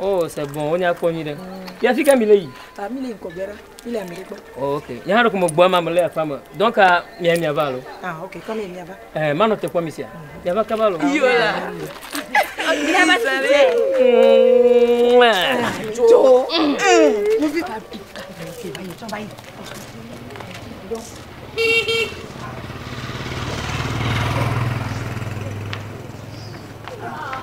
Oh, c'est bon, wonya kpɔ nyuiɖe. Ya fi ka mi le yi? Ah, mi le ŋkɔ gbera, mi le Amérique. Oh, ok. Nye hã ɖo ko me gbɔ ama me le aƒa me. Donc ah, mia mia va alo? Ah, ok, kɔ mi mia va. Eh, ma nɔ te kpɔ mi sia. Mhm. Mia va kaba alo? Yo la. Mi va si le. Jo. Eh, mi vi ka bi ka. C'est bien, tu vas y. Donc. Ah.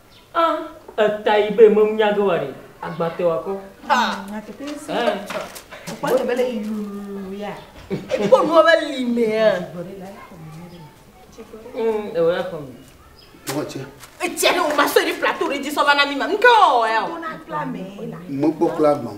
A, Etayi be meŋ nya ge wa ɖe, agba te wa kɔ. A, Ɛ. Kpɔ te be le yuu ya. Ekpɔ nua be li me ya. Mm, ewe la kɔ mi. Ewe tse. Etsia ne o ma so eri plateau re dzi sɔ va na mi ma. Nke o ya o. Mo kpɔ kla gbɔn.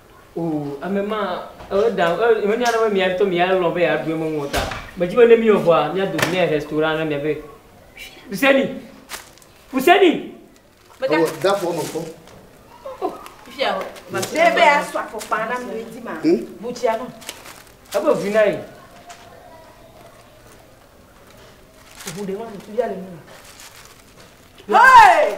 O, ame ma, eo da, eo, menya ɖe be mia ŋutɔ mia lɔ̃ be yeaɖu eme ŋu o ta. Medzi be ne míwɔ vɔa, míado ŋu nɛ restaurant ne mia be, Huseni! Huseni! Meda. Ewɔ da fɔ me fɔ. Oh, fia o. Mese be asɔ afɔkpa na mi ŋuti ma. Hm? Butsia no. Ebe vu na ye. Ŋu ɖe ma, ŋutu ya le mi. Hey!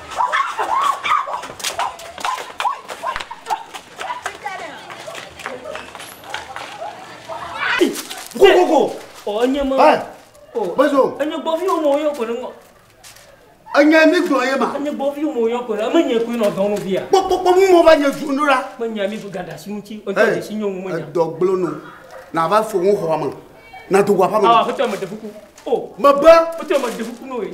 enye ma. ɛ bɛso. enye gbɔvi wo mɔ yɔ ko ne ŋɔ. enye mi gbɔ ye ma. enye gbɔvi wo mɔ yɔ ko ne eme nye koe nɔ dɔnu via. kpɔkpɔkpɔ mu mɔ va nye dunu ɖo la. me nya mi gada si ŋuti. ɛ edɔ gblɔ nu na va fo ŋu xɔa me na do wa ƒe me. awo aƒetɔ me de kuku. o. me be. aƒetɔ me de kuku n'o ye.